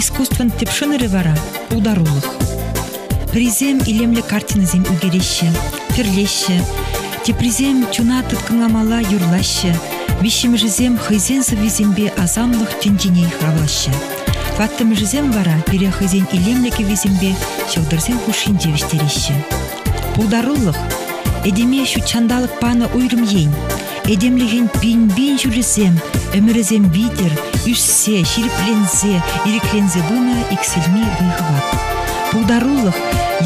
Искусствӑн тӗп шӑнӑрӗ вара – пултарулӑх. Пӗрисем илемлӗ картинӑсем ӳкереҫҫӗ, тӗрлеҫҫӗ. Теприсем чуна тыткӑнламалла юрлаҫҫӗ. Виҫҫӗмӗшӗсем хӑйсен сӑввисемпе асамлӑх тӗнчине хавлаҫҫӗ. Ваттӑмӗшӗсем вара пире хӑйсен илемлӗ кӗввисемпе ҫӑлтӑрсем хушшинче вӗҫтереҫҫӗ. Пултарулӑх – этеме ҫут ҫанталӑк панӑ уйрӑм ен. Этемлӗхӗн пин-пин ҫулӗсем, ӗмӗрӗсем витӗр, ӳссе, ҫирӗпленсе, ирӗкленсе пынӑ иксӗлми вӑй-хӑват. Пултарулӑх,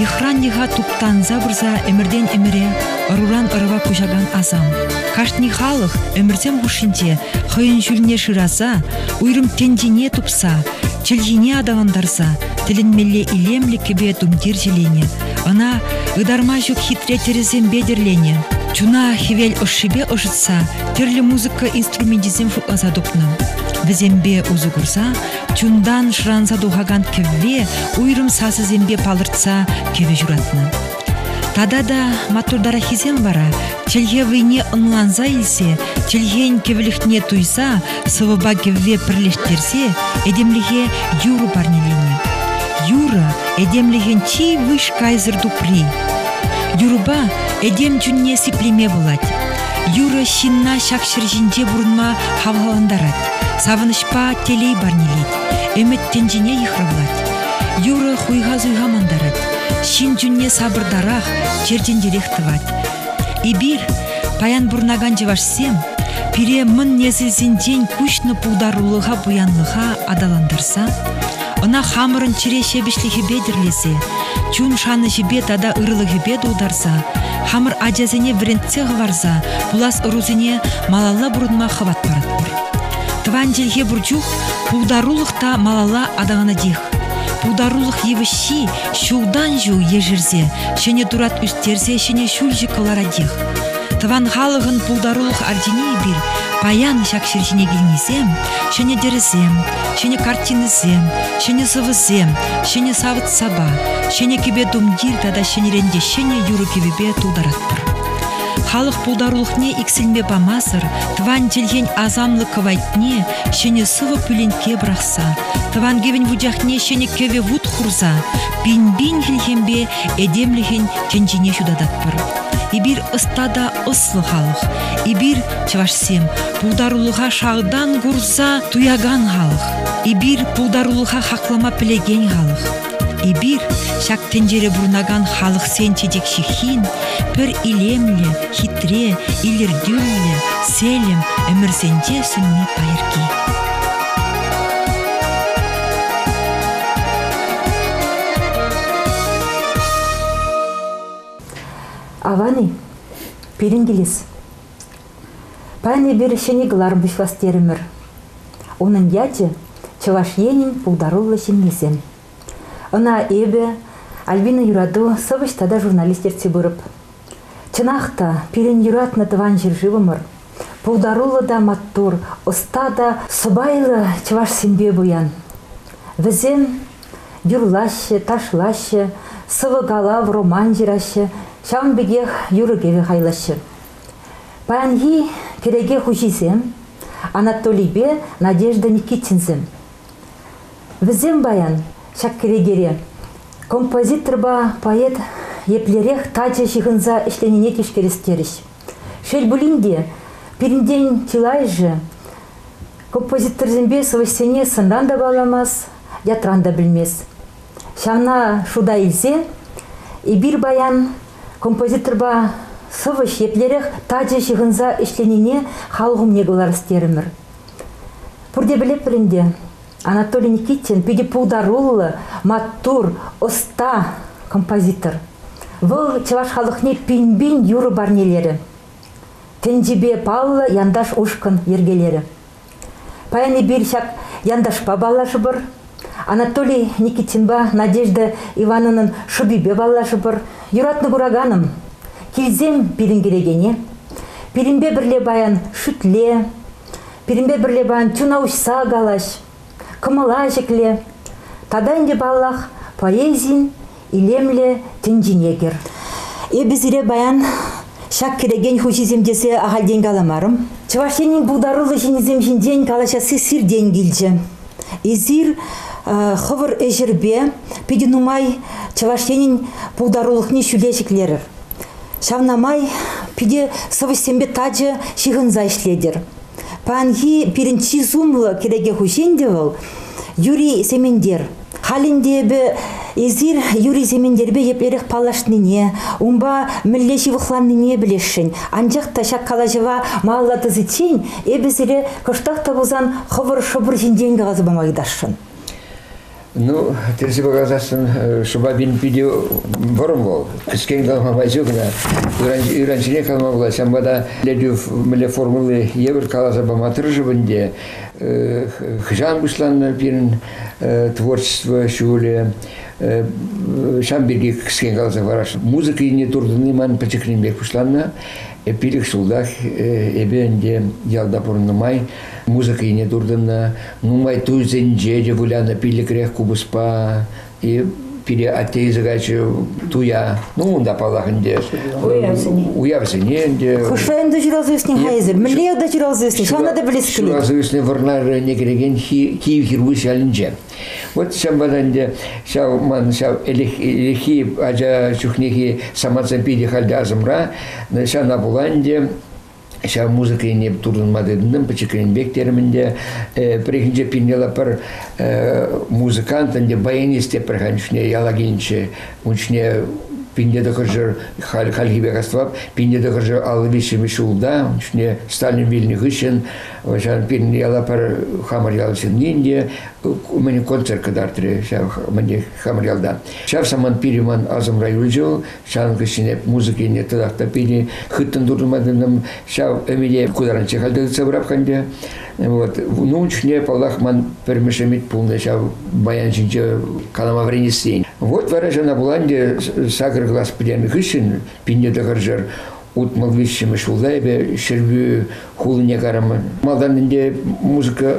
йӑхран йӑха туптанса пырса ӗмӗртен ӗмӗре ӑруран ӑрӑва куҫакан асам. Кашни халӑх ӗмӗрсем хушшинче хӑйӗн ҫулне шыраса, уйрӑм тӗнчине тупса, чӗлхине аталантарса тӗлӗнмелле илемлӗ кӗпе-тумтир ҫӗленӗ, Ӑна ытарма ҫук хитре тӗрӗсемпе тӗрленӗ. Чуна хӗвел ӑшшипе ӑшӑтса тӗрлӗ музыка инструменчӗсем шутласа тупнӑ. Вӗсемпе усӑ курса чунтан шӑранса тухакан кӗвве уйрӑм сасӑсемпе палӑртса кӗвӗ ҫуратнӑ. Тата та маттуртараххисем вара чӗлхе вӑйне ӑнланса илсе чӗлхен кӗвӗлӗхне туйса сӑвӑпа кӗвве пӗрлештерсе этемлӗхе юрӑ парнеленӗ. Юрӑ этемлӗхӗн чи выҫ кайсӑр тупри. Юрӑпа этем чунне сиплеме пулать. Юрӑ ҫынна ҫак ҫӗр ҫинче пурӑнма хавхалантарать, савӑнӑҫпа телей парнелет, ӗмӗт тӗнчине йыхравлать. Юрӑ хуйха-суйха мантарать, ҫын чунне сапӑртарах, чертентерех тӑвать. Эпир, паян пурӑнакан чӑвашсем, пире мӑн несӗлсенчен куҫнӑ пултарулӑха, пуянлӑха аталантарса, ӑна хамӑрӑн чӗре ҫепӗҫлӗхӗпе тӗрлесе, чун шанӑҫӗпе тата ырӑлӑхӗпе тултарса, хамӑр ачасене вӗрентсе хӑварса пулас ӑрусене малалла пурӑнма хӑват паратпӑр. Тӑван чӗлхе пур чух пултарулӑх та малалла аталанатех. Пултарулӑх йывӑҫҫи Ҫултан-ҫул ешерсе, ҫӗнӗ турат ӳстерсе ҫӗнӗ ҫӳлҫӗ кӑларатех. Тӑван халӑхӑн пултарулӑх ордени эпир паян ҫак ҫӗр ҫине килнисем ҫӗнӗ тӗрӗсем, ҫӗнӗ картинӑсем, ҫӗнӗ сӑвӑсем, ҫӗнӗ савӑт-сапа, ҫӗнӗ кӗпе-тумтир тата ҫӗнӗрен те ҫӗнӗ юрӑ-кӗвӗпе тултаратпӑр. Халӑх пултарулӑхне иксӗлме памасӑр тӑван чӗлхен асамлӑ кӑвайтне ҫӗнӗ сӑвӑ пӳленкке пӑрахса Тӑван кӗвӗн вучахне ҫӗнӗ кӗвӗ вут хурса пин-пин хӗлхемпе этемлӗхӗн тӗнчине ҫутататпӑр. Эпир ӑста та ӑслӑ халӑх. Эпир, чӑвашсем, пултарулӑха шалтан курса туякан халӑх. Эпир пултарулӑха хаклама пӗлекен халӑх. Эпир, ҫак тӗнчере пурӑнакан халӑхсен чечек ҫыххин, пӗр илемлӗ, хитре, илӗртӳллӗ, селӗм ӗмӗрсенче сӳнми пайӑрки. Авани, пирӗн килес. Паян эпир ҫӗнӗ кӑлар пуҫлас терӗмӗр. Унӑн ячӗ – Чӑваш Енӗн пултаруллӑ ҫыннисем. Ӑна эпӗ, Альбина Юрату, сӑвӑҫ тата журналист ертсе пырӑп. Чӑнах та, пирӗн юратнӑ тӑван ҫӗршывӑмӑр пултаруллӑ та маттур, ӑста та сӑпайлӑ чӑвашсемпе пуян. Вӗсем юрлаҫҫӗ, ташлаҫҫӗ, сӑвӑ-калав, роман ҫыраҫҫӗ, ҫавӑн пекех юрӑ-кӗвӗ хайлаҫҫӗ. Паянхи кӗреке хуҫисем Анатолийпе Надежда Никитинсем. Вӗсем паян ҫак кӗрекере композиторпа поэт еплерех тачӑ ҫыхӑнса ӗҫленине тишкерес терӗҫ. Шел пулин те, пирӗнтен чылайӑшӗ композиторсемпе сӑвӑҫсене сӑнран та палламас, ятран та пӗлмест. Ҫавна шута илсе эпир паян композиторпа сӑвӑҫ еплерех тачӑ ҫыхӑнса ӗҫленине халӑх умне кӑларас терӗмӗр. Пурте пӗлетпӗр ӗнтӗ, Анатолий Никитин питӗ пултаруллӑ, маттур, ӑста композитор. Вӑл чӑваш халӑхне пин-пин юрӑ парнелерӗ. Тӗнчипе паллӑ янташ ушкӑн йӗркелерӗ. Паян эпир ҫак янташпа паллашӑпӑр. Анатолий Никитинпа Надежда Ивановнан шӑпипе паллашӑпӑр. Юратнӑ кураканӑм, килсем пирӗн килекене. Пирӗнпе пӗрле паян шӳтле, пирӗнпе пӗрле паян чуна уҫса калаҫ, кӑмӑла ҫӗкле. Тата ӗнтӗ, паллах, поэзин илемлӗ тӗнчене кӗр. Эпӗ сире баян ҫак кӗрекен хуҫисем тесе ахальтен каламарӑм. Чӑваш Енӗн пултаруллӑ ҫыннисем ҫинчен калаҫасси сиртен килчӗ. Эсир хӑвӑр ӗҫӗрпе питӗ нумай Чӑваш Енӗн пултарулӑхне ҫӳле ҫӗклерӗр. Ҫавна май питӗ сӑвӑҫсемпе тачӑ ҫыхӑнса ӗҫлетӗр. Паянхи пирӗн чи сумлӑ кӗреке хуҫи ӗнтӗ вӑл Юрий Сементер. Халь ӗнтӗ эпӗ эсир Юрий Сементерпе еплерех паллашнине, унпа мӗнле ҫывӑхланнине пӗлесшӗн. Анчах та ҫак калаҫӑва малалла тӑсиччен эпӗ сире кӑштах та пулсан хӑвӑр шӑпӑр ҫинчен каласа пама ыйтасшӑн. Ну, персипе каласассӑн шӑпа пин питӗ вӑрӑм вӑл. Кӗскен калама май ҫук кӑна. Ыран-ҫине калама пулать. Ҫавӑнпа та Летюв мӗнле формулли евӗр каласа пама тӑрӑшӑп ӗнтӗ. Хӑҫан пуҫланнӑ пирӗн творчество ҫулӗ ҫавӑн пирки кӗскен каласа парас. Музыка енне туртӑнни ман пӗчӗкрен пек пуҫланнӑ. Пилӗк ҫултах эпӗ ӗнтӗ ялта пурӑннӑ май музыка енне туртӑннӑ. Нумай туйсенче те вылянӑ пиллӗкрех купӑспа. И пире атте илсе кайчӗ туя. Ну, унта, паллах, ӗнтӗ уявсене. Уявсене ӗнтӗ. Хӑшпа ӗнтӗ ҫуралса ӳснӗ-ха эсир? Мӗнле ялта ҫуралса ӳснӗ? Ҫавна та пӗлес килет. Ҫуралса ӳснӗ Вӑрнар районне килекен Киев Хиргуз ялӗнче. Вот ҫавӑнпа та ӗнтӗ ҫав ман ҫав ӗлӗкхи ача чухнехи самантсем питӗ халь те асӑмра. Ҫавна пула ӗнтӗ ҫав музыка ене туртӑнма тытӑнтӑм пӗчӗкренпех терӗм ӗнтӗ пӗррехинче пинела пӗр музыкант ӗнтӗ баянист те пӗр хан чухне яла килнӗччӗ ун чухне пинте тӑхӑрҫӑр хальхи пек астӑвап пинте тӑхӑрҫӑр аллӑ виҫҫӗмӗш ҫулта ун чухне Сталин вилнӗ хыҫҫӑн вӑҫан пирӗн яла пӗр хамӑр ял ҫыннин те мӗн концерт кӑтартрӗ ҫав мӗн хамӑр ялта ҫав самант пирӗн ман асӑмра юлчӗ вӑл Ҫавӑн хыҫҫӑн эп музыка илнӗ тӑрах та пине хыттӑн туртма тытӑнам. Ҫав ӗмӗте кударанчче халь тытса пӑраххан те. Вот. Ну, ун чухне, паллах, ман пӗрмӗш ӗмӗт пулнӑ ҫав баян ҫинче калама вӗренесси. Вот вара ҫавна пулан те сакӑр класс пӗтернӗ хыҫҫӑн пинне тӑхӑрҫӑр утмӑл виҫҫӗмӗш ҫулта эпӗ Ҫӗрпӳ хулине кайрӑмӑн. Малтан ӗнтӗ музыка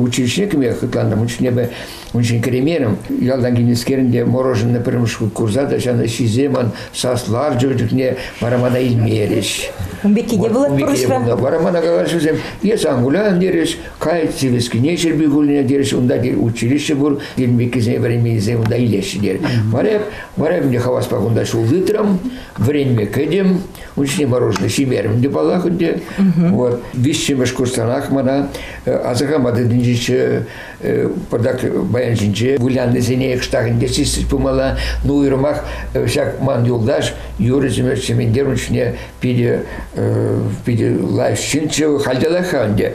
училищине кӗме хӑтлантӑм, ун чухне эпӗ ун ҫине кӗреймерӗм. Ялтан килнӗскерӗн те мороженое пӗрремӗш хут курса та ҫанӑ ҫисе ман сас ларчӗ чухне вара мана илмерӗҫ. Ун пекки те пулать пурнӑҫра. Вара мана калаҫусем, эс ан кулян терӗҫ, кай Сивӗскине Ҫӗрпӳ хулине терӗҫ, унта училище пур, килмеккисене вӗренменисем унта илеҫҫӗ терӗҫ. Вара вара ӗнтӗ хаваспа кунта ҫул тытрӑм, Вӗренме кӗтӗм, ун ҫине мороженое ҫимерӗм те паллах ӗнтӗ. Вот виҫҫӗмӗш курсранах мана э, асӑрхама тытӑнчӗччӗ э, пӑтак баян ҫинче выляннисене кӑштах интереслись пымалла. Ну уйрӑмах э, ҫак ман юлташ Юрий Семенович Семендерович ҫине питӗ питӗ лайӑх ҫынччӗ, хальталах-ха ӗнтӗ.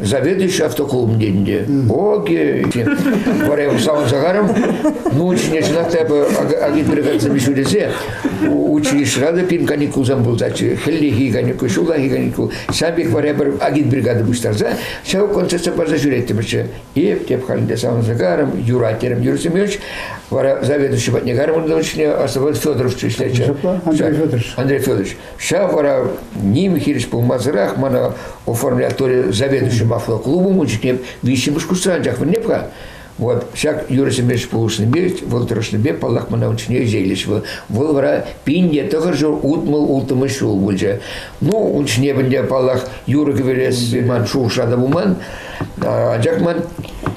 Заведующий автоклубінде де окей варя савӑн сахарым ну ҫине чӑнах та эпӗ агит перекатсем ҫу тесе училищӑра та пин каникулсем пултаччӗ хӗллехи каникул ҫуллахи каникул ҫав пек варя пӗр агит бригада пуҫтарса ҫав концертсем парса ҫӳреттӗмӗрччӗ эп теп халӗнде савӑн сахарым юрать терем Юрий Семенович вара заведующий патне карман ҫине оставалось Федорович ӗҫлетчӗ Андрей Федорович Ҫав вара ним хирӗҫ пулмасӑрах мана оформлятори заведующий мафло клубом ун чухне виҫҫӗмӗш курсра анчах вӗренеп-ха. Вот ҫак юрӑсемпе пулӑшнипе, вӑл тӑрӑшнипе, паллах, мана ун ҫине ӗҫе килчӗ. Вӑл, вӑл вара пин те тӑхӑр ҫул утмӑл, улттӑмӗш ҫул пулчӗ. Ну, ун ҫине ӗнтӗ, паллах, юрӑ кӗверес ман шухӑша та пулман. Анчах ман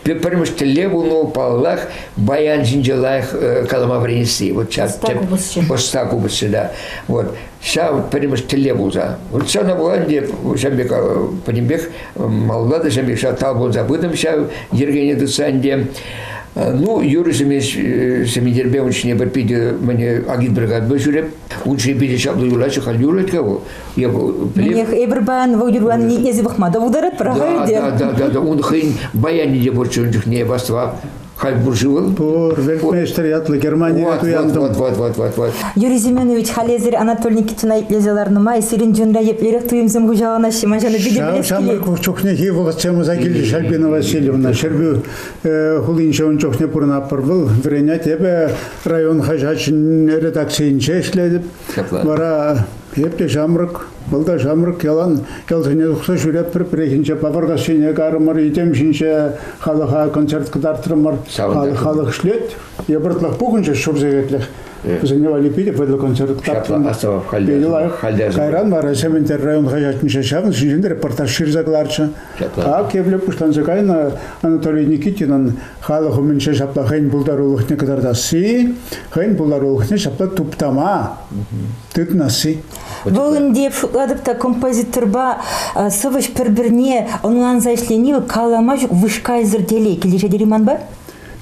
пӗрмӗш тӗллев пулнӑ, паллах, баян ҫинче лайӑх калама вӗренесси. Вот ҫак тӗп ӑста купӑсчы, да. Вот ҫав пӗрремӗш тӗллев пулса. Вот ҫавна пула ӗнтӗ ҫав пек пӗтӗмпех маллатӑ ҫав пек ҫав талпӑнса пытӑм ҫав йӗркене тытса ӗнтӗ. Ну, юрӑ семейтерпе ун ҫине пӗр питӗ мӗне агит бригадпа ҫӳреп. Ун ҫине питӗ ҫаплӑ юрлаҫҫӗ, халь юрлать-ка вӑл. Я Мӗнех, эпир паян вӑл юрлани ниепле пӑхма та пултарать, пӑрахать те. Да, да, да, да, ун хӑйӗн баянӗ те пур чун чухне, ваства. Халь пур-ши вӑл? Пур, вельтмейстер ятлӑ Германире туянтӑм. Вот, вот, вот, вот, вот. Юрий Семенович, халь эсир Анатолий Никитина итлесе ларнӑ май сирӗн чунра еплерех туйӑмсем хуҫаланаҫҫӗ, ман ҫавна питӗ пӗлес килет. Ҫамрӑк чухнехи вӑл Чамуса килти Шальпина Васильевна Ҫӗрпӳ хулинче ун чухне пурӑнатпӑр вӑл. Вӗренет эпӗ район хаҫатҫин редакцийӗнче ӗҫлетӗп. Вара эп те ҫамрӑк Вӑл та ҫамрӑк ялан ялсене тухса ҫӳретпӗр. Пӗррехинче Папӑркассине карӑмӑр, йӗтем ҫинче халӑха концерт кӑтартрӑмӑр. Халӑх, халӑх ӗҫлет. Йӑпӑртлӑх пухӑнчӗ ҫур сехетлӗх. Вӗсене валли питӗ вӑйлӑ концерт тапрӑмӑр. Питӗ лайӑх. Кайран вара Сементер район хаҫатӗнче ҫавӑн ҫинчен репортаж ҫырса кӑларчӗ. Ак епле пуҫланса кайнӑ Анатолий Никитинӑн халӑх умӗнче ҫапла хӑйӗн пултарулӑхне кӑтартасси, хӑйӗн пултарулӑхне ҫапла туптама тытнасси. Вӑл ӗнтӗ шутлатӑп та композиторпа сӑвӑҫ пӗр-пӗрне ӑнланса ӗҫлени калама ҫук вышкайсӑр телей килӗшет тери манпа.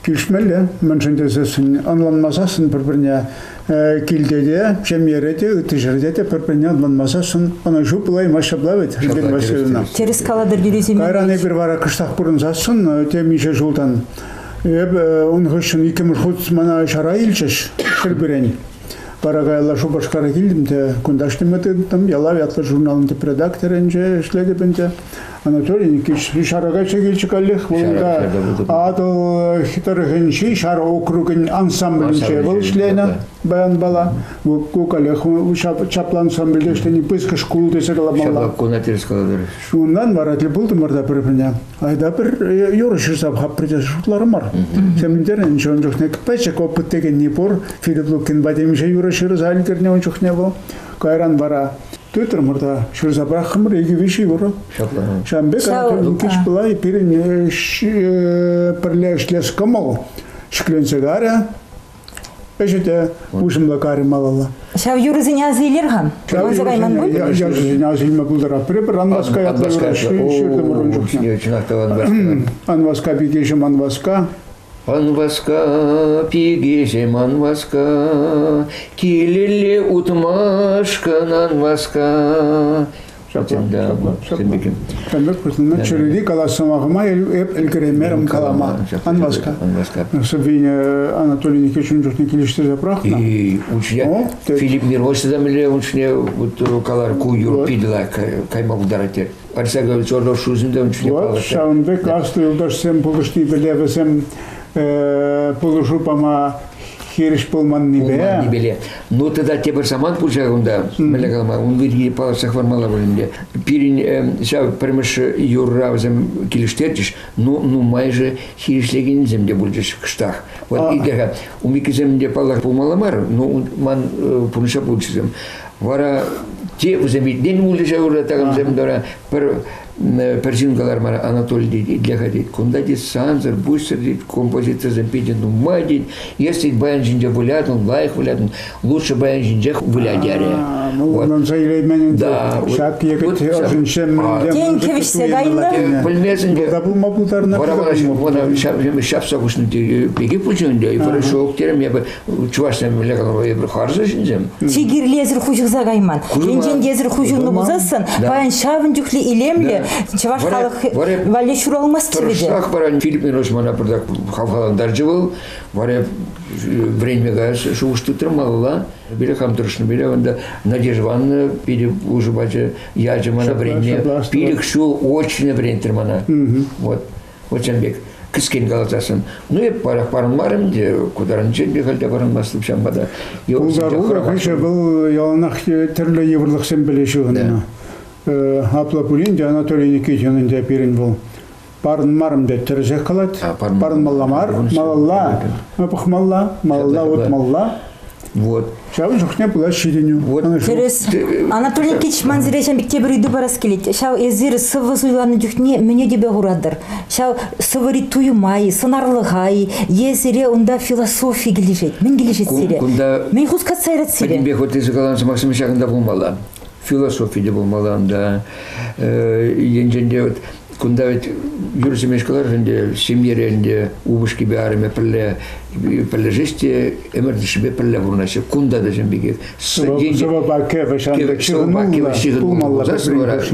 Килӗшмелле, мӗншӗн тесессӗн ӑнланмасассӑн пӗр-пӗрне килте те, ҫемьере те, ытти ҫӗрте те пӗр-пӗрне ӑнланмасассӑн ӑнӑҫу пулаймасть ҫапла вӗт, Ольга Васильевна. Тӗрӗс калатӑр юрисене. Кайран эпир вара кӑштах пурӑнсассӑн темиҫе ҫултан эпӗ ун хыҫҫӑн иккӗмӗш хут мана ҫара илчӗҫ пӗр-пӗрен. Вара каялла Шупашкара килтӗм те кунташ теме тытӑм. Ялав ятлӑ журналӑн тӗп редакторӗнче ӗҫлетӗп ӗнтӗ. Анатолий Никитич Шарака чекилчӗ каллех вырӑнта Атӑл тӑрӑхӗнчи Шара округӗн ансамблӗнче вӑл ӗҫленӗ баян бала. Ку каллех чаплӑ ансамбльте ӗҫлени пысӑк шкул тесе каламалла. Ҫапла, кунатир школа Унтан вара тӗл пултӑмӑр та пӗр-пӗрне. Айда пӗр юрӑ ҫырса хаппӑр тесе шутларӑмӑр. Темӗнтер ӗнтӗ ун чухне пӗчӗк опыт текенни пур. Филипп Лукинпа темиҫе юрӑ ҫырса ӗлкӗрнӗ ун чухне вӑл. Кайран вара тытрӑмӑр та ҫырса пӑрахрӑмӑр икӗ-виҫ юрӑ. Ҫавӑн пек Антон Лукич пулай пирӗн пӗрле ӗҫлес кӑмӑл ҫӗкленсе карӗ. Ӗҫӗ те уҫӑмлӑ карӗ малалла. Ҫав юрӑсене аса илер-ха. Юрласа кайман пуль? Юрӑсене аса илме пултарап. Пӗр-пӗр Анваска ятла юрать. Ҫыртӑмӑр ун чухне. Чӑнах та Анваска. Анваска пикеҫӗм Анваска. Анваска, пикеҫем Анваска, килелле утмашкӑн Анваска, Ҫапла. Ҫапла. Ҫантӑк хыснина чӗрери калас сӑмахӑма ӗлкӗреймерӗм калама. Ан васка. Ан васка. Савиня Анатолий Никитичӑн чухне килӗштерсе пӑрахнӑ. И уншне Филипп Мирович та мӗнле уншне вот калар ку юр питла кайма пултарать те. Парса говорит, чорно шузында уншне палӑртать. Вот ҫавӑнпа каслӑ юлташсем пулӑшни пӗле вӗсем пулӑшу пама хирӗҫ пулманнипе... Пулманнипе. Ну тата тепӗр самант пулчӗ кунта, мӗнле калама, ун пирки палӑртса хӑвармалла пуль ӗнтӗ. Пирӗн ҫав пӗрмӗш юрра вӗсем килӗштертӗҫ, ну нумайӑшӗ хирӗҫлекенсем те пулчӗҫ кӑштах. Вот икӗ умикӗсем те паллах пулмалла мар, ну ман пурнӑҫа пулчӗсем. Вара те вӗсем витнен пулчӗ ҫав ура такамсем тора, Пӗр, пӗр ҫын кӑлармара Анатолий тет, итле-ха тет, кунта тет сансӑр, быстро тет, композицисем питӗ нумай тет. Если баян ҫинче вылятӑн, лайӑх вылятӑн, лучше баян ҫинчех выля терӗ. Ну, ӑнӑнса илеймен да, ҫак егет ӑшӗнчен тенкӗ вӗҫсе кайнӑ. Пӗлмесен те. пулма пултарнӑ. Вара ҫапса хушнӑ, пеки пучунде, хорошо, терем, я бы чӑвашсем виллекен эпир харсӑр ҫынсем. Чи кирлесӗр хуҫӑхса кайман. Енчен те эсӗр хуҫӑлнӑ пулсассӑн, паян ҫавӑн чухлӗ илемлӗ чӑваш халӑх валли ҫуралмасть вӗсем. Тӑрӑшсах паян Филиппин Османа пӗртак хавхалантарчӗ вӑл. Вара вӗренме каяс шухӑш тытрӑм малалла. Пире хам тӑрӑшнӑ пире unda Надежда Ивановна питӗ пулӑшу пачӗ, ячӗ мана вӗренме. Пилӗк ҫул очно вӗрентрӗ мана. Вот. Хучан пек кӗскен каласассӑн, ну эп парах парӑнмарӑм те, кутарӑнчен пек халь те парӑнмастӑп ҫавӑнпа та. Пултаруллӑ хыҫа вӑл яланах тӗрлӗ йывӑрлӑхсем пӗле ҫыхӑннӑ. Апла пулин те Анатолий Никитинӑн те пирӗн вӑл парӑнмарӑм тет тӗрӗсех калать. Парӑнмалла мар, малалла пӑхмалла, малалла утмалла. Вот. Ҫавӑн чухне пулать ҫитӗнӳ. Вот. Тӗрӗс. Анатолий Кич, ман сире ҫав пек тепӗр ыйту парас килет. Ҫав эсир сывӑ суйланнӑ чухне мӗне тӗпе хуратӑр? Ҫав сывӑри туйӑма-и, сӑнарлӑха-и е сире унта философи килӗшет? Мӗн килӗшет сире? Кунта мӗн хускатса ярать сире? Пӗтӗмпех вот эсир каланӑ сӑмахсем ҫакӑнта пулмалла философи те пулмалла унта. Енчен те вот Кунта вӗт юр ҫимеш кӑлар ӗнтӗ, ҫемьере ӗнтӗ, упӑшкипе арӑмӗ пӗрле пӗрлешеҫ те ӗмӗр тӗшшипе пӗрле пурӑнаҫҫӗ. Кунта та ҫын пекех. Сӑвӑпа кӗвӗ ҫантӑк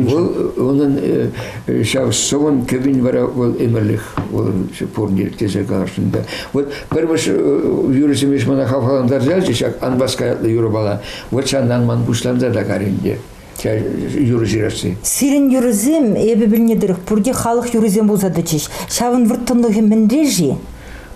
Вӑл унӑн э, ҫав сӑвӑн кӗвин вара вӑл ӗмӗрлӗх вӑл пурнир тесе каласшӑн та. Вот пӗр юрӑ ҫимеш мана хавхалантарса ячӗ ҫак анбас каятлӑ юрӑпала. Вот ҫаннан ман пуҫланса та каринде. юрӑ ҫырасси. Сирӗн юрӑсем, эпӗ пӗлнӗ тӑрӑх, пурте халӑх юррисем пулса тӑчӗҫ. Ҫавӑн вӑрттӑнлӑхӗ мӗнре-ши?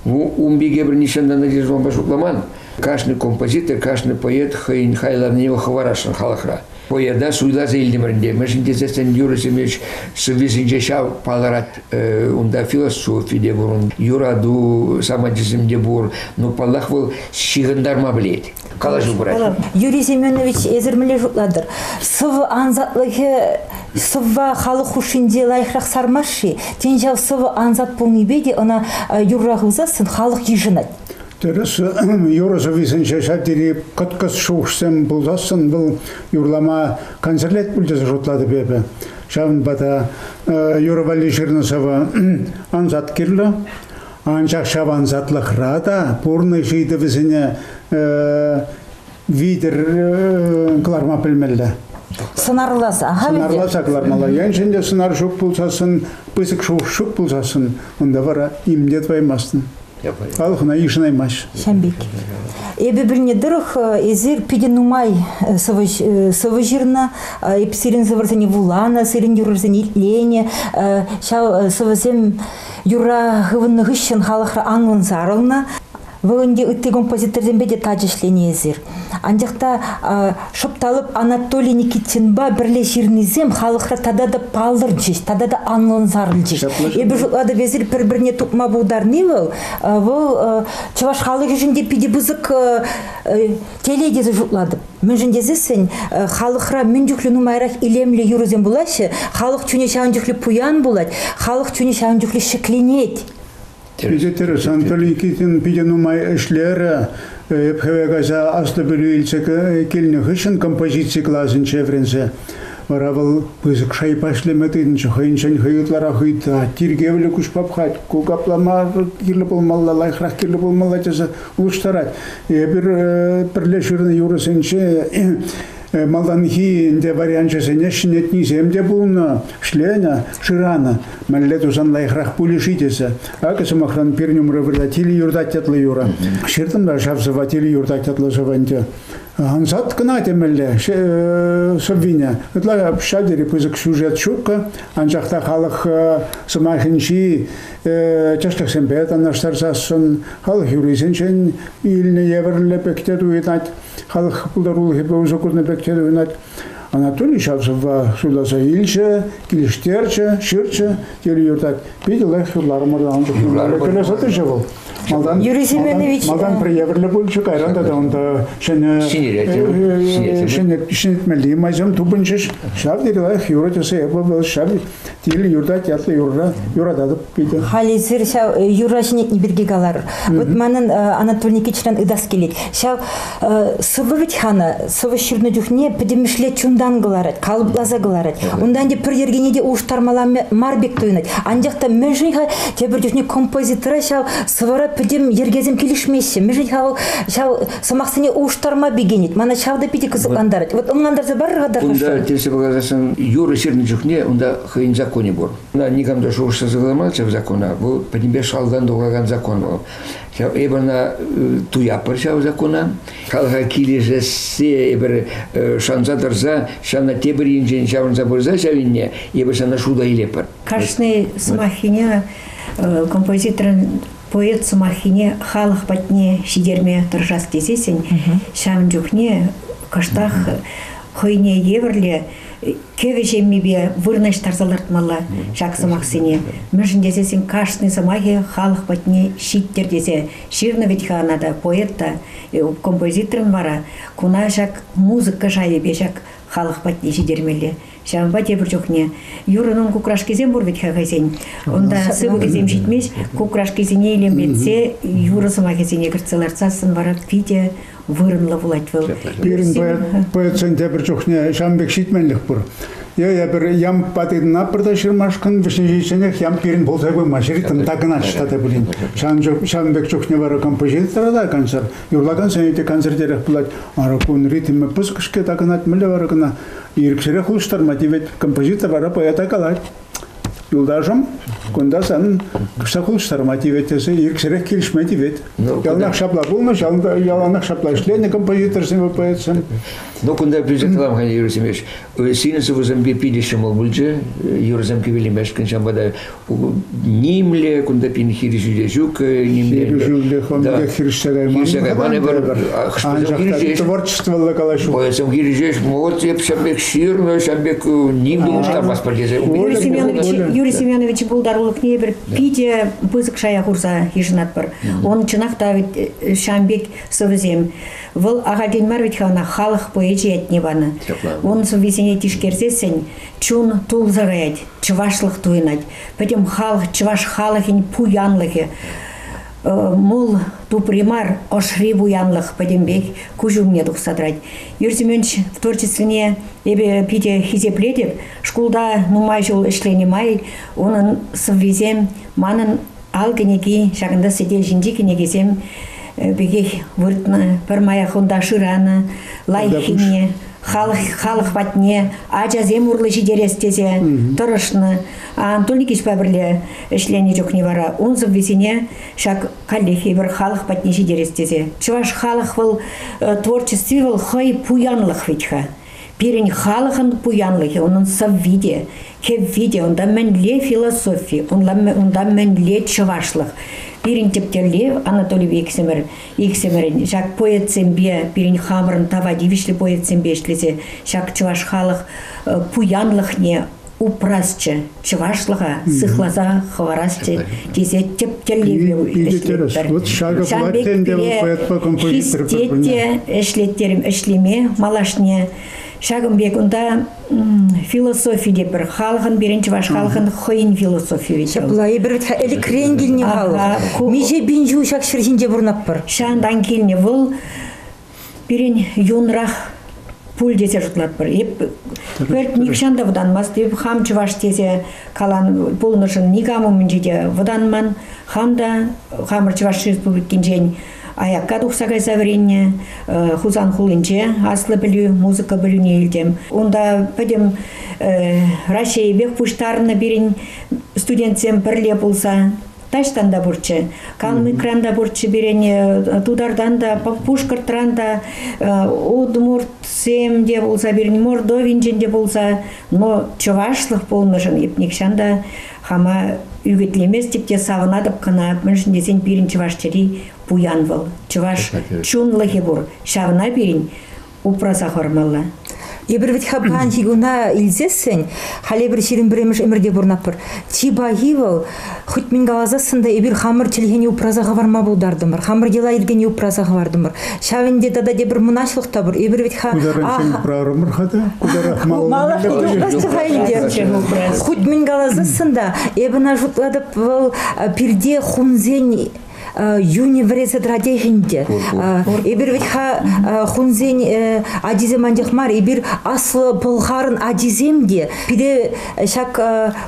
Ву умпике пӗр нихҫантан та часлампа шутламан. Кашни композитор, кашни поэт хӑйӗн хайлавне вӑл хӑварасшӑн халӑхра. Поэта суйласа илтӗмӗр ӗнтӗ, мӗншӗн тесен юрӑсене сӑввисенче ҫав палӑрать. Унта философи те пур, юрату самантисем те пур. Но, паллах, вӑл ҫыхӑнтарма пӗлет. Калаҫу пырать. Юрий Семенович, эсир мӗнле шутлатӑр? Сӑв ансатлӑхӗ сӑвва халӑх хушшинче лайӑхрах сармасть-ши? Тен, ҫав сӑв ансат пулнипе те ӑна юрра хывсассӑн халӑх йышӑнать. Тӗрӗс, юрӑ-сӑввисенче ҫав тери кӑткӑс шухӑшсем пулсассӑн вӑл юрлама концертлет пуль тесе шутлатӑп эпӗ. Ҫавӑнпа та юрӑ валли ҫырнӑ сӑвӑ ансат кирлӗ. Анчах ҫав ансатлӑхра та пурнӑҫ ыйтӑвӗсене витӗр кӑларма пӗлмелле. Сӑнарласа ахаль Сӑнарласа кӑлармалла. Еншӗн те сӑнар ҫук пулсассӑн, пысӑк шухӑш ҫук пулсассӑн, унта вара им те тӑваймастӑн. Халӑхна йышӑнаймасть. Ҫамбик. Эпӗ пӗлнӗ тӑрӑх, эсир питӗ нумай сӑвӑ ҫырнӑ. Эп сирӗн сӑвӑрсене вуланӑ, сирӗн юрӑсене итленӗ. Ҫав сӑвӑсем Юрра хывӑннӑ хыҫҫӑн халӑхра анлӑн сарӑлнӑ. Вӑл ӗнтӗ ытти композиторсемпе те тачӑ ӗҫленӗ эсир. Анчах та шӑпталӑп Анатолий Никитинпа пӗрле ҫырнисем халӑхра тата та палӑрчӗҫ, тата та анлӑн сарӑлчӗҫ. Эпир шутлатӑп, эсир пӗр-пӗрне тупма пултарни вӑл, вӑл чӑваш халӑхӗшӗн те питӗ пысӑк Телей тесе шутлатӑп. Мӗншӗн тесессӗн э, халӑхра мӗн чухлӗ нумайрах илемлӗ юрӑсем пулаҫҫӗ, халӑх чунӗ ҫавӑн чухлӗ пуян пулать, халӑх чунӗ ҫавӑн чухлӗ ҫӗкленет. Питӗ тӗрӗс, Анатолий Никитин питӗ нумай ӗҫлерӗ. Эп хӗве кайса аслӑ пӗлӳ илсе килнӗ хыҫҫӑн композици класӗнче вӗренсе вара вӑл пысӑк шайпа ӗҫлеме тытӑнчӗ. Хӑйӗнчен хӑй ытларах ыйтать. Тиркевлӗ куҫ папхать. Ку каплама кирлӗ пулмалла, лайӑхрах кирлӗ пулмалла тесе улӑштарать. Эпир пӗрле ҫырнӑ юрӑсенче малтанхи ӗнтӗ варианчӗсене ҫӗнетнисем те пулнӑ. Шленӗ, шыранӑ. Мӗнле тусан лайӑхрах пулӗ-ши тесе. Акӑ, сӑмахран, пир нюмры вырла тилӗ юртать ятлӑ юрӑ. Ҫыртӑм та ҫав сӑва тилӗ юртать ятлӑ сӑва ӗнтӗ. Ансат кӑна темелле сӑввине. Ытла ҫав тери пысӑк сюжет ҫуккӑ, анчах та халӑх сӑмахӗнчи тӗслӗхсемпе танлаштарсассӑн халӑх юррисенчен илнӗ евӗрлӗ пек те туйӑнать, халӑх пултарулӑхӗпе усӑ курнӑ пек те туйӑнать. Анатолий Чалсова суйласа илчӗ, килӗштерчӗ, ҫырчӗ, тӳрӗ юртать. Питӗ лайӑх юрларӑмӑр ан чухне. Кӗлесе тӑчӗ вӑл. Малтан, Юрий Семенович малтан приверлӗ пулчӗ, кайран тата унта ҫӗнӗ ҫӗнетмелли майсем тупӑнчӗҫ. Ҫав тери лайӑх юрӑ тесе эпӗ вӑл ҫав Тивӗ юртать, ятлӑ юрра юрататӑп питӗ. Халӗсӗр ҫав э, юрра ҫӗнетни пирки калар. Вот манӑн э, Анатолий Никитичран ытас килет. Ҫав э, сӑвӑ вӗт хана сӑвӑ ҫырнӑ чухне пӗтӗмӗшле чунтан кӑларать, калӑпласа кӑларать. Унтан те пӗр йӗркене те улӑштармалла мар пек туйӑнать. Анчах та мӗншӗн-ха тепӗр чухне композитора ҫав сӑвӑра пӗтӗм йӗркесем килӗшмеҫҫӗ? Мӗншӗн-ха вӑл ҫав сӑмахсене улӑштарма пикенет. Мана ҫав та питӗ кӑсӑклантарать. Вот ӑнлантарса парӑр-ха тархасшӑ. Кунта тесе пӑхасассӑн юрӑ ҫырнӑ чухне унта хӑйӗн законӗ пур. Мына никам та шухӑшласа кӑларманччӗ ҫав закона. Вӑл пӗтӗмпе шалдан тухакан закон вӑл. Ҫав эпир ӑна э, туятпӑр ҫав закона. Халӑха килӗшессе эпир э, шанса тӑрса ҫавна тепӗр енчен ҫаврӑнса пырса ҫав енне эпир ҫавна шута илетпӗр. Кашни сӑмаххине композиторӑн поэт сӑмаххине халӑх патне ҫитерме тӑрӑшас тесессӗн ҫавӑн чухне кӑштах хӑйне евӗрле кӗвӗ ҫеммипе вырнаҫтарса лартмалла ҫак сӑмахсене. Мӗншӗн тесессӗн кашни сӑмахӗ халӑх патне ҫиттӗр тесе ҫырнӑ вӗт-ха ӑна та поэт та, э, композиторӑн вара куна ҫак музыка шайӗпе ҫак халӑх патне ҫитермелле. Ҫавӑнпа тепӗр чухне юрӑнӑн кукрашкисем пур вӗт-ха хӑйсен. Унта сыпӑкӗсем ҫитмест, кукрашкисене илемлетсе юрӑ сӑмахӗсене кӗртсе лартсассӑн вара питӗ вырӑнлӑ пулать вӑл. Пирӗн поэтсен тепӗр чухне ҫавӑн пек ҫитменлӗх пур. Е эпир ям патина пӗрте ҫырмашкӑн вӗҫне ҫитсенех ям пирӗн пулса пымасть, ритм такӑнаҫ тата пулин. Ҫавӑн, ҫавӑн пек чухне вара композитора та концерт, юрлакансене те концертерех пулать. Ара, кун ритмӗ пысӑк-ҫке такӑнать, мӗнле вара кӑна Ирӗксӗрех улӑштарма тивет. Композитор вара поэта калать. Юлташӑм, кунта санӑн куҫса улӑштарма тивет тесе ирӗксӗрех килӗшме тивет. Ну, яланах ҫапла пулнӑ, яланах ҫапла ӗҫленӗ композиторсем и поэтсем. Ну, кунта пӳлсе калам-ха, Юрий Семенович, синӗн сывӑсем питӗ ҫӑмӑл пулчӗ, юрӑсем кӗвелемешкӗн, ҫавӑнпа та нимле кунта пин хирӗҫӳ те ҫук. Хирӗҫӳлле хӑнпек хирӗҫтерейман. Хирӗҫе кайман эпир. Анчах творчествӑлла калаҫу. Поэтому хирӗҫеш вот эп ҫам пек ҫырнӑ, ҫам пек ним те муштармастпар тесе. Юрий Семенович пултарулӑхне эпир питӗ пысӑк шая хурса йышӑнатпӑр. Он чӑнах та вӗт ҫам пек сӑвӑсем. Вӑл ахальтен мар вӗт ха ӑна халӑх поэчӗ ятне панӑ. Он сӑввисене тишкерсессӗн Чун тулса каять, чӑвашлӑх туйӑнать. Пӗтӗм халӑх, чӑваш халӑхӗн пуянлӑхӗ. Мул тупри мар, ӑшри пуянлӑх пӗтӗмпех куҫ умне тухса тӑрать. Юрий Семенович творчествине эпе питӗ хисеплетӗп. Шкулта нумай ҫул ӗҫленӗ май унӑн сӑввисем манӑн ал кӗнеки, ҫакӑнта сӗтел ҫинчи кӗнекесем пекех выртнӑ, пӗрмая хунта шыранӑ, лайӑххине, халӑх, халӑх патне ачасем урлӑ ҫитерес тесе тӑрӑшнӑ. Анатолий Никитичпа пӗрле ӗҫленӗ чухне вара ун сӑввисене ҫак каллех эпир халӑх патне ҫитерес тесе. Чӑваш халӑх вӑл творчестви вӑл хӑй пуянлӑх вӗт-ха. Пирӗн халӑхӑн пуянлӑхӗ, унӑн сӑвви те, Хӗвви те унта мӗнле философи, унта мӗнле чӑвашлӑх. Пирӗн тӗп тӗллев Анатолий иксӗмӗр, иксӗмӗрӗн ҫак поэтсемпе, пирӗн хамӑрӑн тава тивӗҫлӗ поэтсемпе ӗҫлесе ҫак чӑваш халӑх э, пуянлӑхне упрасчӗ, чӑвашлӑха сыхласа хӑварасчӗ тесе тӗп тӗллеве ӗҫлетпӗр. Вот ҫакӑ пулать ӗнтӗ поэтпа композитор хистете ӗҫлеттерим ӗҫлеме малашне. Ҫакӑн пек унта Философи те пӗр халӑхӑн пирӗн чӑваш халӑхӑн хӑйӗн философийӗ. Ҫапла эпир вӗт ӗлӗкрен килнӗ халӑх. Миҫе пин ҫул ҫак ҫӗр ҫинче пурӑнатпӑр. Ҫавӑнтан килнӗ вӑл пирӗн юнрах пуль тесе шутлатпӑр. Эп пӗлт нихҫан та вӑтанмасть. Эп хам чӑваш тесе калан пулнӑшӑн никам умӗнче те вӑтанман. Хам та хамӑр Чӑваш Республикинчен Аякка тухса кайса вӗреннӗ. Хусан хулинче аслӑ пӗлӳ, музыка пӗлӳне илтӗм. Унта пӗтӗм Раҫҫейӗпех пуҫтарнӑ пирӗн студентсем пӗрле пулса. Таҫтан та пурччӗ, Калмыкран та пурччӗ пирӗн, Тутартан та, Пушкӑртран та, удмуртсем те пулса пирӗн, Мордовинчен те пулса, но чӑвашлӑх пулнӑшӑн нихҫан та Хама ӳкӗтлеместӗп те савӑнатӑп кӑна, мӗншӗн тесен пирӗн чӑваш чӗри пуян вӑл. Чӑваш чунлӑхӗ пур, ҫавна пирӗн упраса хӑрмалла. Эпир вӗт ха паянхи куна илсессӗн, халӗ эпир ҫирӗм пӗрремӗш ӗмӗрте пурӑнатпӑр. Чи пахи вӑл, хӑть мӗн каласассӑн та, эпир хамӑр чӗлхене упраса хӑварма пултартӑмӑр, хамӑр йӑла-йӗркене упраса хӑвартӑмӑр. Ҫав ӗнтӗ тата тепӗр мӑнаҫлӑх та пур. Эпир вӗт-ха... Куҫарӑнчен упрарӑмӑр-ха та, куҫарах малалла ӳкерчӗ. Хуть мӗн каласассӑн та, эпӗ ӑна шутлатӑп, вӑл пирте хунсен юнӗ вӗресе тӑрать ӗнтӗ. Эпир вӗт-ха хунсен ачисем анчах мар, эпир аслӑ пӑлхарӑн ачисем те. Пире ҫак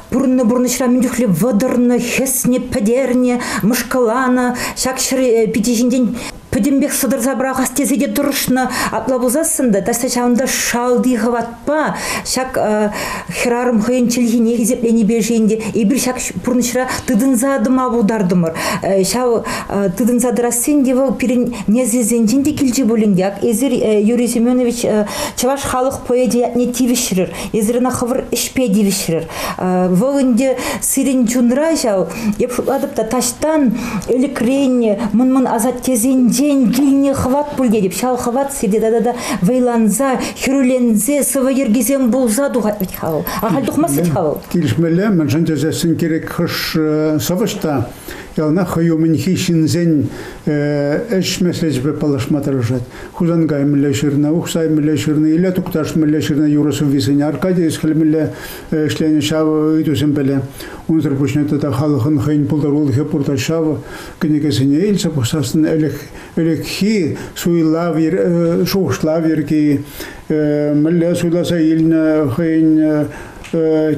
пурӑннӑ пурнӑҫра мӗн чухлӗ вӑтӑрнӑ, хӗснӗ, пӗтернӗ, мӑшкӑланӑ. Ҫак ҫӗр пичӗ ҫинчен пӗтӗмпех сӑтӑрса пӑрахас тесе те тӑрӑшнӑ. Апла пулсассӑн та таса ҫавӑнта шалти хӑватпа ҫак хӗрарӑм хӑйӗн чӗлхине хисепленипе шейін те эпир ҫак пурнӑҫра тытӑнса тӑма пултартӑмӑр. Ҫав тытӑнса тӑрассин те вӑл пирӗн несӗлсенчен те килчӗ пулин те, ак эсир, Юрий Семенович, чӑваш халӑх поэчӗ ятне тивӗҫрӗр, эсир ӑна хӑвӑр ӗҫпе тивӗҫрӗр. Вӑл ӗнтӗ сирӗн чунра ҫав Эп шутлатӑп та таҫтан ӗлӗкрен мӑн-мӑн асаттесенчен килнӗ хӑват пуль тетӗп. Ҫав хӑват сирте тата та вӑйланса, хӗрӳленсе сӑвӑ йӗркисем пулса тухать вӗт-ха вӑл. Ахаль тухмасть вӗт-ха вӑл. Килӗшмелле, мӗншӗн тесессӗн кирек хӑш сӑвӑҫ та яланах хӑй умӗнхи ҫынсен ӗҫ меслечӗпе паллашма тӑрӑшать. Хусан каймӗлле ҫырнӑ, Ухсай мӗнле ҫырнӑ, Иле Тукташ мӗнле ҫырнӑ юрӑ-сӑввисене Аркадий Эсхель мӗнле ӗҫленӗ ҫавӑ ыйтусем пӗле. Унсӑр пуҫне тата халӑхӑн хӑйӗн пултарулӑхӗ пурта ҫавӑ кӗнекесене илсе пӑхсассӑн ӗлӗкхи суйлав шухӑшлав йӗрки, мӗнле суйласа илнӗ хӑйӗн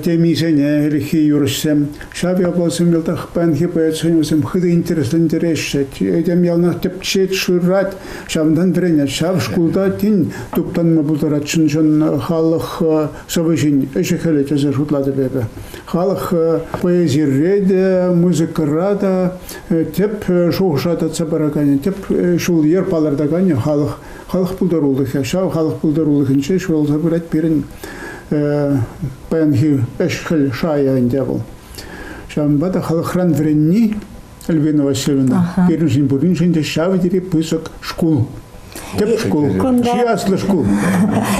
темисене ӗлӗкхи юрӑҫсем. Ҫав ятлӑсем йӑлтах паянхи поэт сӑнӗсем хытӑ интереслентереҫҫӗ. Этем яланах тӗпчет, шырать, ҫавӑнтан вӗренет. Ҫав шкулта тин туптанма пултарать чӑн-чӑн халӑх сӑвӑ ҫин ӗҫӗ-хӗлӗ тесе шутлатӑп эпӗ. Халӑх поэзире те, музыкӑра та тӗп шухӑша татса параканӗ, тӗп ҫул-йӗр палӑртаканӗ халӑх, халӑх пултарулӑхӗ. Ҫав халӑх пултарулӑхӗнче ҫуралса пырать пирӗн паянхи ӗҫ-хӗл шайӗ ӗнтӗ вӑл. Ҫавӑнпа та халӑхран вӗренни Альбина Васильевна, пирӗншӗн пуриншӗн те ҫав тери пысӑк шкул. Тӗп шкул, чи аслӑ шкул.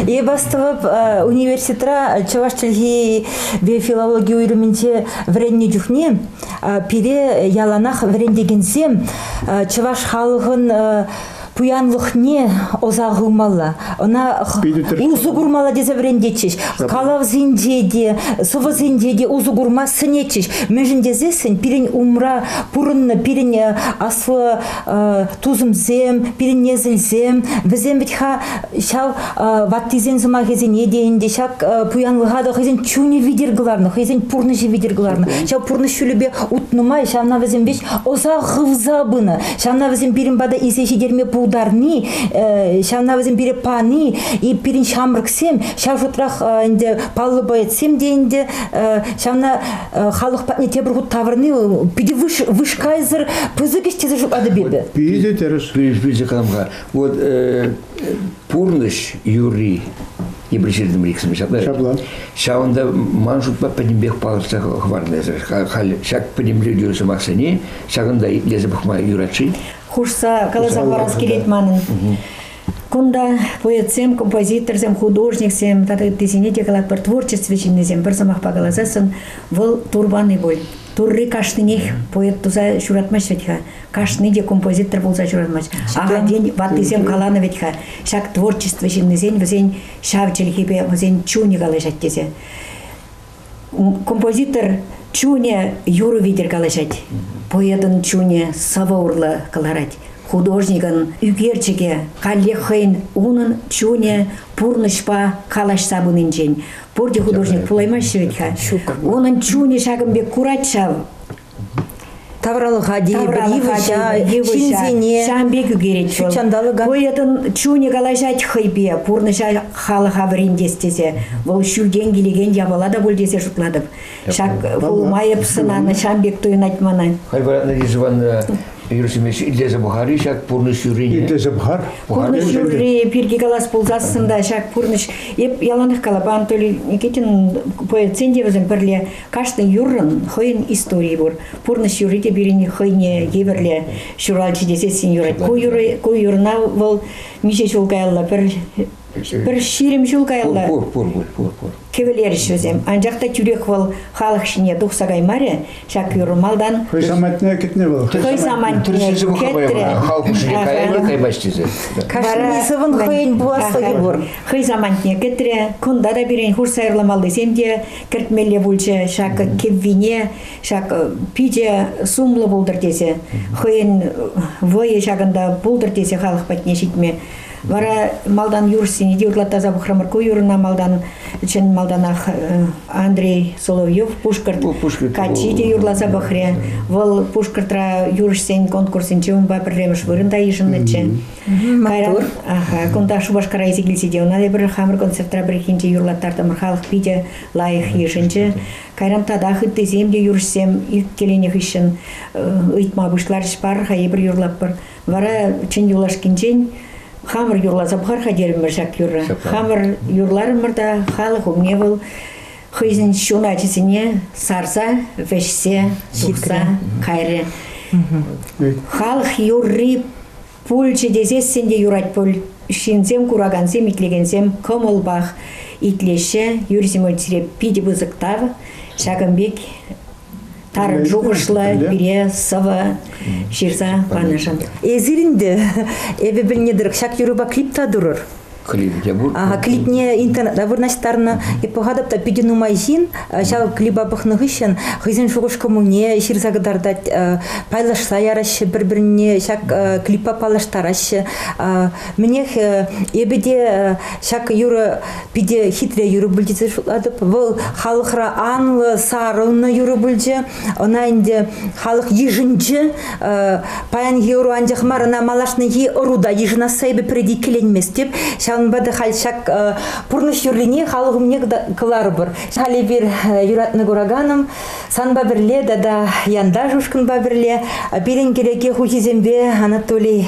Эп астӑвӑп, э, университетра чӑваш чӗлхи ве филологи уйрӑмӗнче вӗреннӗ чухне э, пире яланах вӗрентекенсем э, чӑваш халӑхӑн пуянлӑхне ӑса хывмалла, ӑна усӑ курмалла тесе вӗрентетчӗҫ. Калавсенче те, сӑвӑсенче те усӑ курма сӗнетчӗҫ. Мӗншӗн тесессӗн пирӗн умра пурӑннӑ пирӗн э, аслӑ э, тусӑмсем, пирӗн несӗлсем, вӗсем вӗт-ха ҫав э, ваттисен сӑмахӗсене те ӗнтӗ ҫак пуянлӑха та хӑйсен чунӗ витӗр кӑларнӑ, хӑйсен пурнӑҫӗ витӗр кӑларнӑ. Ҫав пурнӑҫ ҫулӗпе утнӑ май ҫавна вӗсем веҫ ӑса хывса пынӑ. Ҫавна вӗсем пирӗн пата илсе ҫитерме пултарни, ҫавна вӗсем пире пани, и пирӗн ҫамрӑксем, ҫав шутрах ӗнтӗ паллӑ поэтсем те ӗнтӗ, ҫавна халӑх патне тепӗр хут тавӑрни питӗ вышкайсӑр пысӑк ӗҫ тесе шутлатӑп эпӗ. Питӗ тӗрӗсли пысӑк вот пурнӑҫ юрри эпир ҫыртӑмӑр иксӗмӗр ҫапла. Ҫапла. Ҫавӑнта ман шутпа пӗтӗмпех палӑртса хӑварнӑ эсӗ. Халь ҫак пӗтӗмлетӳ сӑмахсене ҫакӑнта итлесе пӑхма юрать-ши? Хушса каласа парас килет манӑн. Кунта поэтсем, композиторсем, художниксем тата ыттисене те калатпӑр, творчество ҫыннисем пӗр сӑмахпа каласан вӑл турбани пуль. Турри кашнинех поэт туса ҫуратмасть вӗт-ха. Кашни те композитор пулса ҫуратмасть. Ахальтен ваттисем каланӑ вӗт-ха, ҫак творчество ҫыннисен вӗсен ҫав чӗлхипе, вӗсен чунӗ калаҫать тесе. Композитор чунӗ юрӑ витӗр калаҫать. Поэтӑн чунӗ сӑвӑ урлӑ кӑларать. Художникӑн ӳкерчӗкӗ каллех хӑйӗн унӑн чунӗ пурнӑҫпа калаҫса пынинчен, Пурте художник пулаймаҫҫӗ вӗт-ха. Ҫук. Унӑн чунӗ ҫакӑн пек курать ҫав. Тавралӑха йывӑҫа, ҫынсене. Ҫавӑн пек ӳкерет вӑл. Поэтӑн чунӗ калаҫать хӑйпе, пурнӑҫа халӑха вӗрентес тесе. Вӑл ҫӳлтен килекен япала та пуль тесе шутлатӑп. Ҫак улма эп сӑнанӑ, ҫавӑн пек туйӑнать мана. Халь Мария Ивановна Юрсемеш итлесе пӑхар-и ҫак пурнӑҫ юррине? Итлесе пӑхар. Пурнӑҫ юрри пирки калас пулсассӑн та ҫак пурнӑҫ эп яланах калапа Анатолий Никитин поэтсен те вӗсем пӗрле кашни юррӑн хӑйӗн историйӗ пур. Пурнӑҫ юрри те пирӗн хӑйне евӗрле ҫуралчӗ тесессӗн юрать. Ку юрра ку юрна вӑл миҫе ҫул каялла пӗр Пӗр ҫирӗм ҫул каялла. Пур, пур, пур, пур, пур. Кӗвӗлерӗҫ вӗсем. Анчах та тӳрех вӑл халӑх ҫине тухса каймарӗ ҫак юр малтан. Хӑй самантне кӗтнӗ вӑл. Хӑй самантне кӗтрӗ. Халӑх хушшине каялла каймасть тесе. Кашни сӑвӑн хӑйӗн пуласлӑхӗ пур. Хӑй самантне кӗтрӗ. Кунта та пирӗн хурса юрламаллисем те кӗртмелле пулчӗ. Ҫак кӗввине, ҫак пичӗ сумлӑ пултӑр тесе, хӑйӗн вӑйӗ ҫакӑнта пултӑр тесе халӑх патне ҫитме Вара малтан юрӑҫсене те ырлаттарса пӑхрӑмӑр. Ку юрӑна малтан чӑн малтанах Андрей Соловьев Пушкӑрт, Пушкӑрт каччи те юрласа пӑхрӗ. Вӑл Пушкӑртра юрӑҫсен конкурсӗнче унпа пӗрремӗш вырӑнта йышӑннӑччӗ. Кайран кунта Шупашкара илсе килсе те ӑна эпир хамӑр концертра пӗррехинче юрлаттартӑмӑр. Халӑх питӗ лайӑх йышӑнчӗ. Кайран татах ыттисем те юрӑҫсем иккӗленнӗ хыҫҫӑн ыйтма пуҫларӗҫ, пар-ха эпир юрлатпӑр. Вара чӗн юлашкинчен хамӑр юрласа пӑхар-ха терӗмӗр ҫак юрра. Хамӑр юрларӑмӑр та халӑх умне вӑл хӑйсен ҫуначӗсене сарса, вӗҫсе, ҫырса кайрӗ. Халӑх юрри пулчӗ тесессӗн те юрать пуль. Ҫынсем куракансем, итлекенсем кӑмӑлпах итлеҫҫӗ. Юрий Семеновичре питӗ пысӑк тав. Ҫакӑн пек тар шухӑшлӑ пире сӑвӑ ҫырса панӑшӑн. Эсир инде эпӗ пӗлнӗ тӑрӑх ҫак юрӑпа клип та турӑр. Клип те пур. Ага, клипне интернетра вырнаҫтарнӑ. Эп пӑхатӑп та питӗ нумай ҫын ҫав клипа пӑхнӑ хыҫҫӑн хӑйсен шухӑш-кӑмӑлне ҫырса кӑтартать, пайлашса яраҫҫӗ пӗр-пӗрне ҫак клиппа паллаштараҫҫӗ. Мӗнех, эпӗ те ҫак юрӑ Питӗ хитре юрӑ пулчӗ тесе шутлатӑп. Вӑл халӑхра анлӑ, сарӑлнӑ юрӑ пулчӗ. Ӑна ӗнтӗ халӑх йышӑнчӗ. Паянхи ӑру анчах мар, ӑна малашнехи ӑру та йышӑнасса эпӗ пӗр иккӗленместӗп. Ҫавӑнпа та халь ҫак пурнӑҫ юррине халӑх умне кӑларӑпӑр. Халь эпир юратнӑ кураканӑм санпа пӗрле тата янташ ушкӑнпа пӗрле пирӗн кӗреке хуҫисемпе Анатолий